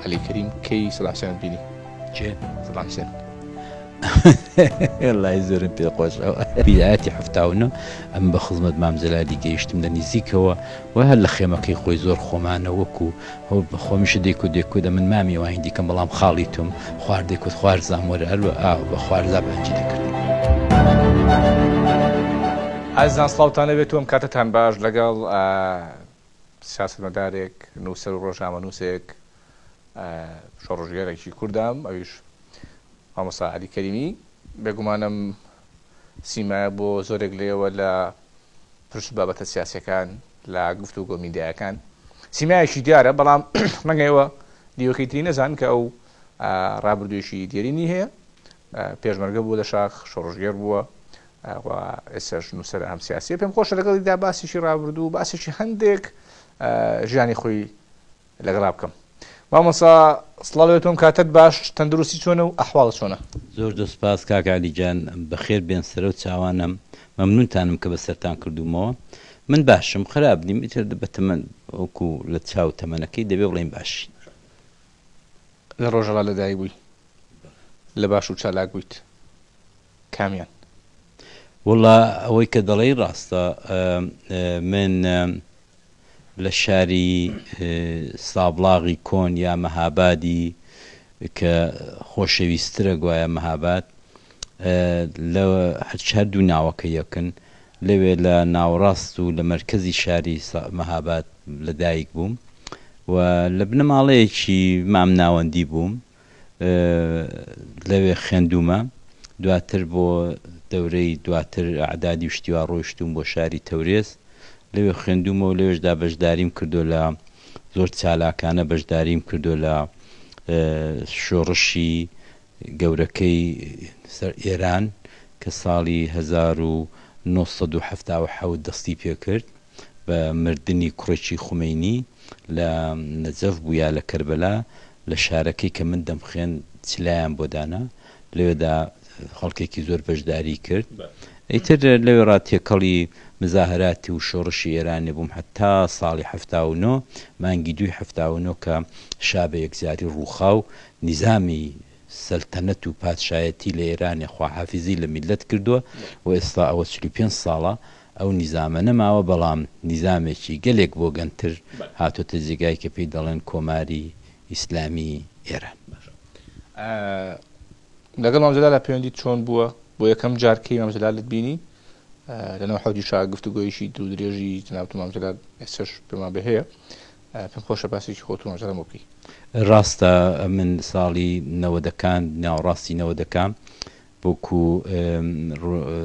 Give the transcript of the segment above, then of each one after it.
علی کریم کی صلاح حسین بینی چێ صلاح حسین لای زۆرم پێ خۆشەوە بیداەتی هەفتاونە ئەم بە خزمەت مامزلادی گەیشتم لە نزیکەوە و هەر لە خێمەکەی خۆی زۆر خۆمانە وەکو هەو بەخۆمیشە دێک و دێکو دە من مامی وای دیکەم بەڵام خاڵی توم خواردێک و خوارزان وەرە هەروە ئاو بە خوارزا بەنجی دەکرد ئازان سلااوان لەبێت وم کاتتان باش لەگەڵ سیاسەتمەدارێک، نووسەر و ڕۆژنامەنووسێک، شۆڕشگێڕێکی کوردم، ئەویش مامۆستا عەلی کەریمی، بێگومان ئەم سیمایە بۆ زۆرێک لە ئێوە لە پرس و بابەتە سیاسیەکان لە گفتوگۆ میدیایەکان سیمایەکی دیارە، بەڵام ڕەنگە ئێوە دیوەکەی تری نەزان کە ئەو ڕابردوویەکی دێرینی هەیە، پێشمەرگە بووە لە شاخ، شۆڕشگێڕ بووە و ئێستاش نووسەرە هەم سیاسییە. پێم خۆشە لەگەڵیدا باسێکی ڕابردوو و باسێکی هەندێک ژیانی خۆی لەگەڵا بکەم. مامۆستا سڵاو لەوێ تۆم کاتەت باش تەندروستی چۆنە و ئەحواڵت چۆنە؟ زۆر زۆر سپاس کاک عەلی جان بەخێر بێن سەرەو چاوانم مەمنونتانم کە بەسەرتان کردوومەوە من باشم خراپ نیم ئیتر بە تەمەن وەکو لە چاو تەمەنەکەی دەبێ بڵێین باشین. لە ڕۆژەڵا لەدایک بووی لە باش و چالاک بوویت کامیان؟ وەڵا ئەوەی کە دەڵێی ڕاستە من لە شاری سابڵاغی کۆن یا مەهابادی کە خۆشەویسترە گوایە مەهاباد لە هەر هەردوو ناوەکە یەکن لەوێ لە ناوەڕاست و لە مەرکەزی شاری مەهاباد لە دایک بووم و لە بنەماڵەیەکی مام ناوەندی بووم لەوێ خوێندوومە دواتر بۆ دەورەی دواتر ئەعدادی و شتیوا ڕۆیشتوم بۆ شاری تەورێز لەوێ خوێندوومە و لەوێشدا بەشداریم کردو لە زۆر چالاکانە بەشداریم کردو لە شۆڕشی گەورەکەی سەر ئێران کە ساڵی هەزار و نۆ سەد و حەفتا و حەوت دەستی پێ کرد بە مردنی کوڕێکی خومەینی لە نەجەف بوو یا لە کەربەلا لە شارەکەی کە من دەمخوێند چلایان بۆ دانا لەوێدا خەڵکێکی زۆر بەشداری کرد ئیتر لەوێڕا تێکەڵی مزاهەراتی و شۆڕشی ئێرانی بووم هەتا ساڵی حەفتا و نۆ مانگی دووی حەفتا و نۆ کە شا بە یەکجاری ڕووخا و نیزامی سەلتەنەت و پادشایەتی لە ئێرانێ خواحافیزی لە میللەت کردووە و ئێستا ئەوە چل و پێنج ساڵە ئەو نیزامە نەماوە بەڵام نیزامێکی گەلێک بۆگەنتر هاتۆتە جێگای کە پێی دەڵێن کۆماری ئیسلامی ئێران. لەگەڵ مام جەلال پەیوەندیت چۆن بووە؟ بۆ یەکەم جار کەی مام جەلالت بینی؟ لەناو حەوجی شا گفتوگۆیەکی دوورودرێژی جەنابت و مام جەلال ئێستاش پێمان بێ هەیە. پێم خۆشە باسێکی خۆت و نۆجەرەم بۆ بکەی. ڕاستە من ساڵی نەوەدەکان ناوەڕاستی نەوەدەکا وەکو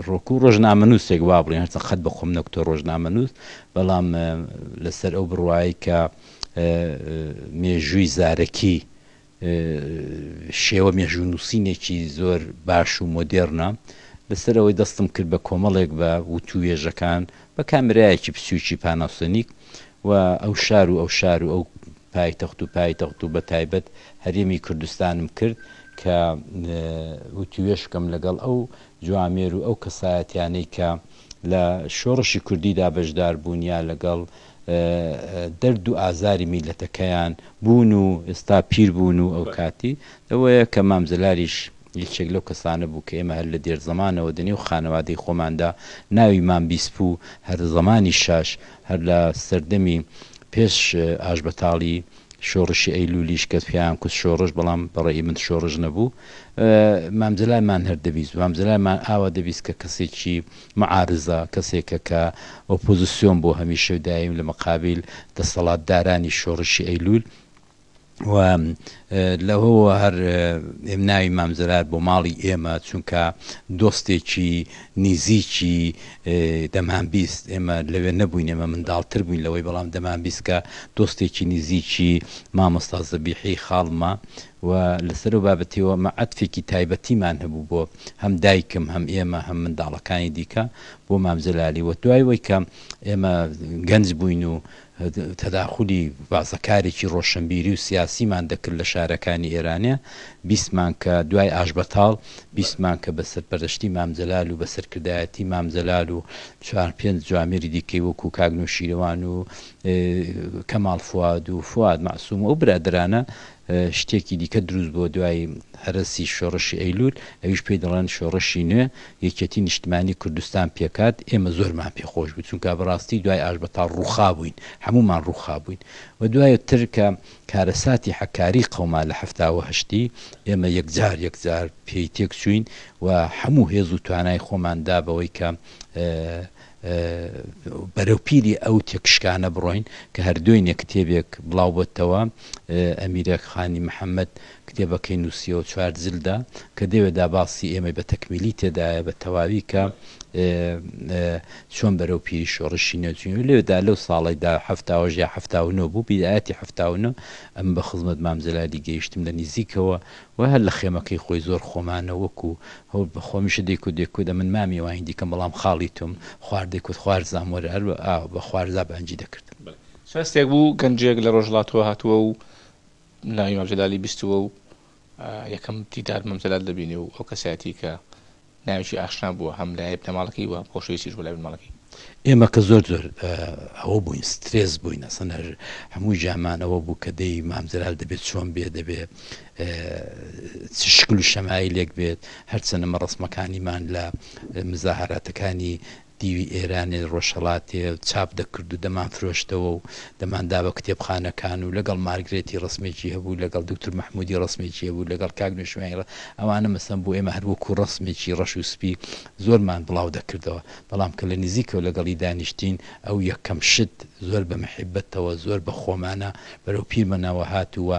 ڕۆکو ڕۆژنامەنووسێک وا بڵێن هەرچەند قەت بە خۆم نەکوتە ڕۆژنامەنووس بەڵام لەسەر ئەو بڕوایە کە مێژووی زارەکی شێوە مێژوونووسینێکی زۆر باش و مۆدێڕنە، لەسەر ئەوەی دەستم کرد بە کۆمەڵێک بە وتووێژەکان بە کامێرایەکی بچووکی پاناسۆنیک و ئەو شار و ئەو شار و ئەو پایتەخت و پایتەخت و بەتایبەت هەرێمی کوردستانم کرد کە وتووێژ بکەم لەگەڵ ئەو جوامێر و ئەو کەسایەتیانەی کە لە شۆڕشی کوردیدا بەشدار بوون یا لەگەڵ دەرد و ئازاری میللەتەکەیان بوون و ئێستا پیر بوون و ئەوکاتی ئەوەیە کە مام جەلالیش یەکێک لەو کەسانە بوو کە ئێمە هەر لە دێر زەمانەوە دە نێو خانەوادەی خۆماندا ناوی مام بیسپوو هەر زەمانیشاش هەر لە سەردەمی پێش ئاشبەتاڵی شۆڕشی ئەیلولیش کەس پێیان کوت شۆڕش بەڵام بە ڕەئی من شۆڕش نەبوو مام جەلال مان هەر دەبیست مام جەلال مان ئاوا دەبیست کە کەسێکی معارزە کەسێکە کە ئۆپۆزسیۆن بۆ هەمیشە و دایم لە مقابیل دەسەڵات دارانی شۆڕشی ئەیلول و لەوەوە هەر ئێم ناوی مام جەلال بۆ ماڵی ئێمە چونکە دۆستێکی نیزیکی دەمانبیست ئێمە لەوێ نەبووین ئێمە منداڵتر بووین لەوەی بەڵام دەمانبیست کە دۆستێکی نیزیکی مامۆستا زەبیحی خاڵمە و لەسەر ئەو بابەتیەوە ئەمە عەتفێکی تایبەتیمان هەبوو بۆ هەم دایکم هەم ئێمە هەم منداڵەکانی دیکە بۆ مام جەلالی و دوای وەی کە ئێمە گەنج بووین و تەداخولی بازەکارێکی ڕۆشنبیری و سیاسیمان دەکرد لە شارەکانی ئێرانێ، بیستمان کە دوای ئاشبەتاڵ، بیستمان کە بە سەرپەرەشتی مام جەلال و بە سەرکردایەتی مام جەلال و چوار پێنج جوامێری دیکەی وەکوو کاک نەوشیروان و کەماڵ فواد و فواد مەعسوم و ئەو برادەرانە، شتێکی دیکە دروست بووە دوای هەرەسی شۆڕشی ئەیلول، ئەویش پێی دەڵێن شۆڕشی نوێ، یەکێتی نیشتمانی کوردستان پێکهات، ئێمە زۆرمان پێ خۆش بوو، چونکە بەڕاستی دوای ئاشبەتاڵ ڕووخابووین، هەموومان ڕووخابووین و دواتر کە کارەساتی حەکاری قەوما لە حەفتا و هەشتی، ئێمە یەکجار یەکجار پێی تێکچووین و هەموو هێز و توانای خۆمان دا بەوەی کە بەرەو پیری ئەو تێکشکانە بڕۆین کە هەردوێنێ کتێبێک بڵاو بۆتەوە ئەمیرەک خانی محەمەد کتێبەکەی نووسیەوە چوار جلدە کە دەوێدا باسی ئێمەی بە تەکمیلی تێدایە بە تەواوی کە چۆن بەرەو پیری شۆڕشی نوێچوین لێدا لەو ساڵیدا هەفتاوەژ یا هەفتا و نۆ بوو بیدایەتی هەفتا و نۆ ئەم بە خزمەت مامجلالی گەیشتم لە نیزیکەوە و هەر لە خێمەکەی خۆی زۆر خۆمانە وەکو هۆ بەخوا میشە دەیکوت دەیکوت ئەمن مامی وای هندی کەم بەڵام خاڵی توم خوار دەیکوت خوارزام وەرە هەر بە ئاو بە خوارزا بە هەنجی دەکردم. چ هەستێک بوو گەنجێک لە ڕۆژهەڵاتەوە هاتووە و ناوی مام جەلالی بیستووە و یەکەم دیدار مام جەلال دەبینێ و ئەو کەسایەتیی کە ناوێکی ئاشنا بووە هەم لای بنەماڵەکەی و هەم خۆشەویستیش بووە لای بنەماڵەکەی. ئێمە کە زۆر زۆر ئەوە بووین سترێس بووین ئەسەنە هەموو ژامانەوە بوو کە دەی مامزرال دەبێت چۆن بێ دەبێ شکل و شەمایی لێک بێت هەرچەنەمە ڕسمەکانیمان لە مزاهراتەکانی دیوی ئێرانێ ڕۆژهڵاتێ چاپ دەکرد و دەمان فرۆشتەوە و دەماندا بە کتێبخانەکان و لەگەڵ مارگرێتی ڕسمێکی هەبوو لەگەڵ دکتور مححمودی ڕسمێکی هەبوو لەگەڵ کاک نوێشمێنڕە ئەوانە مەسم بوو ئێمە هەروەکو ڕسمێکی ڕەش و سپی زۆرمان بڵاو دەکردەوە بەڵام کە لە نزیکەوە لەگەڵی دانیشتین، ئەو یەکەم شت زۆر بە محیبەتەوە، زۆر بە خۆمانە بەرەو پیرمەنەوە هات و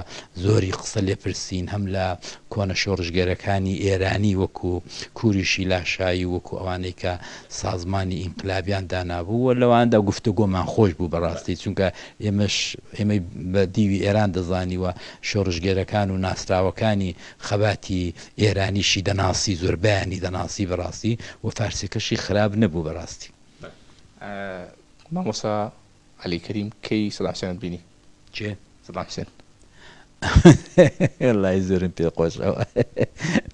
زۆری قسە لێ پرسین، هەم لە کۆنە شۆڕشگێرەکانی ئێرانی وەکوو کوریشی لاشایی و وەکوو ئەوانەی کە سازمانی ئینقلابیان دانابوو و لەوانەدا گفتوگۆمان خۆش بوو بەڕاستی، چونکە ئێمەش ئێمەی بە دیوی ئێران دەزانی و شۆڕشگێرەکان و ناسراوەکانی، خەباتی ئێرانیشی دەناسی زۆربەیانی دەناسی بەڕاستی و فارسەکەشی خراپ نەبوو بەڕاستی. مامۆستا علی کەریم کەی سەدام حسێنت بینی؟ کێ؟ سەدام حسێن. وەڵای زۆرم پێ خۆش ئەوە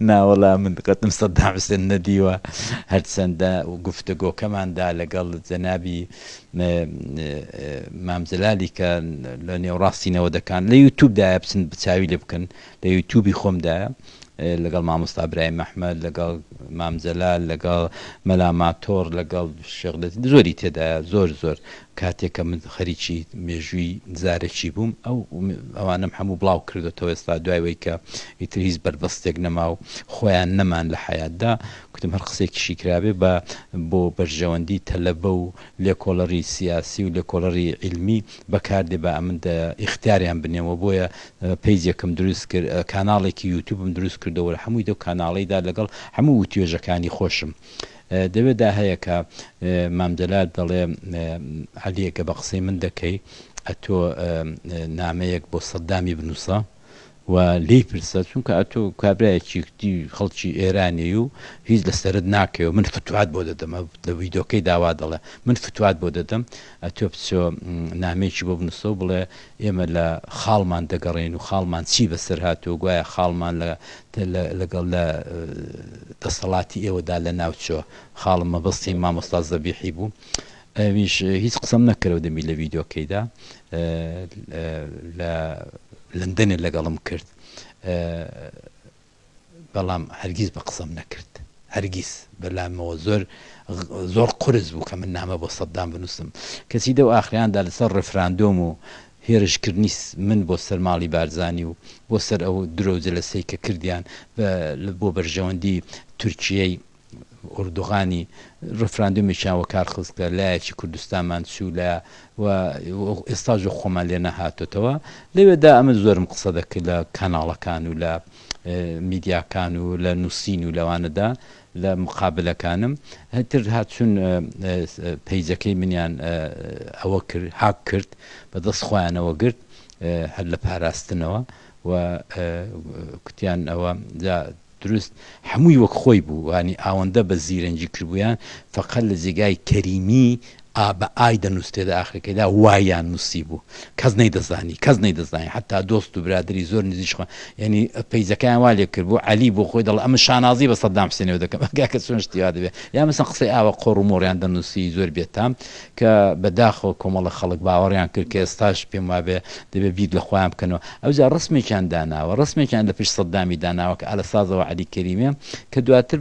ناوەڵا من قەتم سەدام حسێن نەدیوە هەرچەندە گفتەگۆکەماندا لەگەڵ جەنابی مامجلالی کە لە نێوڕاستی نەوەدەکان لە یوتوبدایە بچن بچوی لێ بکەن لە یوتوبی خۆمدایە لەگەڵ مامۆستا برایم ئەحمەد لەگەڵ مام جەلال لەگەڵ مەلا ماتۆڕ لەگەڵ شێخ لەتیف زۆری تێدایە زۆر زۆر کاتێک کە من خەریکی مێژووی زارەکی بووم ئەو ئەوانەم هەموو بڵاو کردوەوە ئێستا دوای وەی کە ئیتر هیچ بەربەستێک نەما و خۆیان نەمان لە حەیاتدا کوتم هەر قسێکیشی کرابێ بە بۆ بەرژەوەندی تەلەبە و لێکۆڵەری سیاسی و لێکۆڵەری عیلمی بەکاردێ با ئەمن ئیختیاریان بنێم وە بۆیە پەیجێکم دروست کرد کاناڵێکی یوتوبم دروست کردەوە لە حەمووی دەو کاناڵەیدا لەگەڵ حەموو وتوێژەکانی خۆشم دەوێ دا هەیە کە مام جەلال دەڵێ عەلیێ گە بە قسەی من دەکەی ئەتۆ نامەیەک بۆ سەددامی بنووسە و لێی پرسە چونکە ئەتۆ کابرایەکی کوتی خەڵکی ئێرانی و هیچ لە سەرت ناکەی و من فتوات بۆ دەدەم ئە لە ویدۆکەی دا وا دەڵێ من فتوات بۆ دەدەم ئەتۆ بچۆ نامەیەکی بۆ بنوسە و بڵێ ئێمە لە خاڵمان دەگەڕێین و خاڵمان چی بە سەر هاتووە گوایە خاڵمان لە لە لەگەڵ لە دەسەڵاتی ئێوە دا لە ناو چۆ خاڵم مەبەستی مامۆستا زەبیحی بوو ئەویش هیچ قسەم نەکەرەوە دەمی لە ڤیدۆکەیدا لە لندەنێ لەگەڵم کرد بەڵام هەرگیز بە قسەم نەکرد هەرگیز بەلامەوە زۆر زۆر قرس بوو کە من نامە بۆ سەددام بنووسم کەسی دەو ئاخریاندا لەسەر ڕفراندۆم و هێرشکردنی من بۆ سەر ماڵی بارزانی و بۆ سەر ئەو درۆ جلەسەی کە کردیان بۆ بەرژەوەندی تورکیەی ئوردوغانی ڕفراندۆمێکیان وەکار خست کە لایەکی کوردستانمان چوو لە و ئێستا جۆ خۆمان لێ نەهاتۆتەوە لەوێدا ئەمە زۆرم قسە دەکرد لە کاناڵەکان و لە میدیاکان و لە نووسین و لەوانەدا لە مقابلەکانم هەتر هاچون پەیجەکەی منیان ئەوە کرد هاک کرد بە دەست خۆیانەوە گرت هەر لە پاراستنەوە و کوتیان ئەوە دروست هەمووی وەک خۆی بوو یانی ئاوەندە بە زیرەنگی کردبوویان فەقەت لە جێگای کەریمی ئا بە ئای دەنووسرێت لە ئاخرەکەیدا وایان نووسیبوو کەس نەیدەزانی کەس نەیدەزانی حەتا دۆست و برادری زۆر نزیش خۆ یانی پەیجەکەیان وا لێ کردبوو عەلی بۆ خۆی دەڵێ ئەمن شانازی بە سەدام حسێنەوە دەکەم ئەگا کە چۆن شتی وا دەبێ یا مەسەن قسەی ئاوا قۆڕ و مۆڕیان دەنووسی زۆر بێتام کە بە داخەوە کۆمەڵە خەڵک باوەڕیان کرد کە ئێستاش پێم وابێ دەبێ بیر لە خۆیان بکەنەوە ئەوجا ڕەسمێکیان داناوە ڕەسمێکیان لە پشت سەددامی داناوە کە ئالە سازەوە عەلی کەریمێ کە دواتر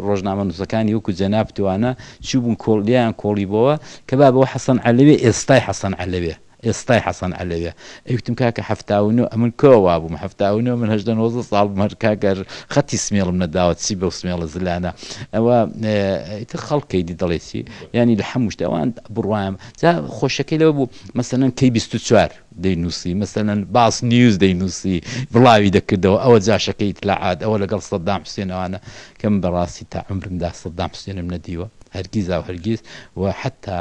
ڕۆژنامەنووسەکانی وەکوو جەنابتوانە چووبوون کۆڵ لێیان کۆڵیبۆوە کە بابەوە حەسەن عەلەوێ ئێستای حەسەن عەلەوێ ئێستای حەسەن عەلەویە ئەیوتم کاکە حەفتا و نۆ ئەمن کوا وابووم حەفتا و نۆ من هەژدە نۆزدە ساڵ بووم هەر کاکە خەتی سمێڵم نەداوە چی بەو سمێڵە زلانە ئەوە ئیتر خەڵک ئیدی دەڵێ چی یانی لە هەموو شتێ ئەوان بڕوایم جا خۆشەکەی لەوە بوو مەسەلەن کەی بیست و چوار دەینووسی مەسەلەن باس نیوز دەینووسی بڵاوی دەکردەوە ئەوە جاشەکەی ئیتلاعات ئەوە لەگەڵ سەددام حوسێنەوانە کە من بەڕاستی تا عومرمدا سەددام حوسێنم نەدیوە هەرگیزا و هەرگیز و حەتا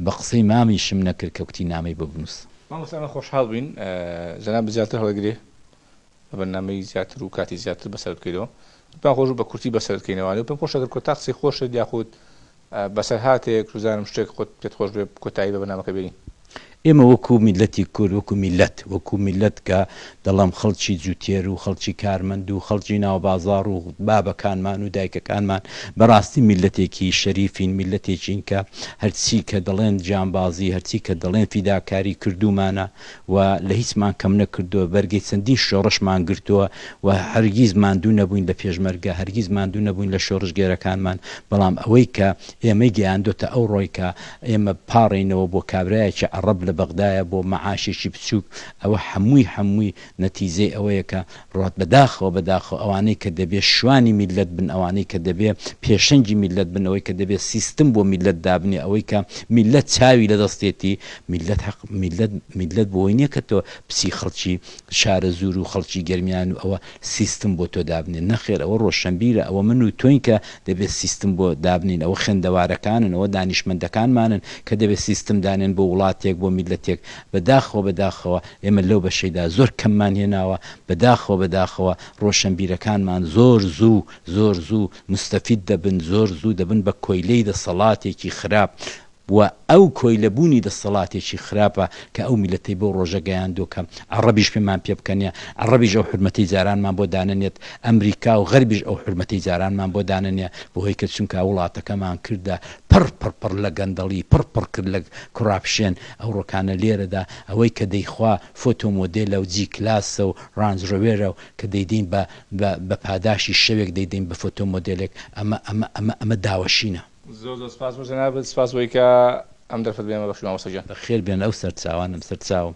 بە قسەی مامی شم نەکرد کە کوتی نامەی بۆ بنوس. مامۆستا ئێمە خۆشحاڵ بووین جەنابت زیاتر هەڵەگرێ بە بەرنامەی زیاتر و کاتی زیاتر بەسەر بکەیتەوە پێمان خۆش بوو بە کورتی بەسەر بکەینەوانێ و پێم خۆشە گەر کۆتا قسەی خۆشت یاخود بەسەرهاتێک بزانم شتێک خۆت پێت خۆش بێ کۆتایی بە بەرنامەکە بێنین. ئێمە وەکوو میللەتی کورد وەکوو میللەت وەکوو میللەت کە دڵم خەڵکی جووتێر و خەڵکی کارمەند و خەڵکی ناوبازاڕ و بابەکانمان و دایکەکانمان بەڕاستی میللەتێکی شەریفین، میللەتێکین کە هەرچی کە دەڵێن گیانبازی، هەرچی کە دەڵێن فیداکاری کردوومانە و لە هیچمان کەم نەکردووە، بەرگەی چەندین شۆڕشمان گرتووە و هەرگیز ماندوو نەبووین لە پێشمەرگە، هەرگیز ماندوو نەبووین لە شۆڕشگێرەکانمان، بەڵام ئەوەی کە ئێمەی گەیاندۆتە ئەوڕۆی کە ئێمە پاڕێینەوە بۆ کابرایەکی عەڕەب لە بەغدایە بۆ مەعاشێکی بچووک، ئەوە حەمووی حەمووی نەتیجەی ئەوەیە کە ڕات بەداخەوە بەداخەوە ئەوانەی کە دەبێ شوانی میللەت بن ئەوانەی کە دەبێ پێشەنگی میللەت بن ئەوەی کە دەبێ سیستم بۆ میللەت دابنێ ئەوەی کە میللەت چاوی لە دەستێتی میللەت حەق میللەت میللەت بۆی نیە کە تۆ بچی خەڵکی شارەزوور و خەڵکی گەرمیان و ئەوە سیستم بۆ تۆ دابنێ نەخێر ئەوە ڕۆشەنبیرە ئەوە من و تۆین کە دەبێ سیستم بۆ دابنێین ئەوە خوێندەوارەکانن ئەوە دانیشمەندەکانمانن کە دەبێ سیستم دانێن بۆ وڵاتێک بۆ میللەتێک بە داخەوە بە داخەوە ئێمە لەو بەشەیدا زۆر کەممان هێناوە، بە داخەوە بە داخەوە ڕۆشەنبیرەکانمان زۆر زوو زۆر زوو موستەفید دەبن، زۆر زوو دەبن بە کۆیلەی دەسەڵاتێکی خراپ و ئەو کۆیلە بوونی دەسەڵاتێکی خراپە کە ئەو میللەتەی بەو ڕۆژە گەیاندووە کە عەڕەبیش پێمان پێ بکەنێ، عەڕەبیش ئەو حورمەتەی جارانمان بۆ دانەنێت، ئەمریکا و غەربیش ئەو حورمەتەی جارانمان بۆ دانەنێ، بە هۆی کە چونکا وڵاتەکەمان کردە پڕ پڕ پڕ لە گەندەڵی، پڕ پڕ کرد لە کۆراپشێن، ئەوڕۆکانە لێرەدا ئەوەی کە دەیخوا فۆتۆ مۆدێلە و جی کلاسە و ڕانج ڕۆێرە و کە دەیدەین بە بە بە پاداشی شەوێک دەیدەین بە فۆتۆ مۆدێلێک ئەمە ئەمە ئەمە ئەمە داوەشینە. زۆر زۆر سپاس بۆ جەنابت سپاس بۆی کە ئەم دەرفەت بەێمە بەخشی مامۆستا گیان. بەخێر بێن ئەو سەرچاوانەم سەرچاوم.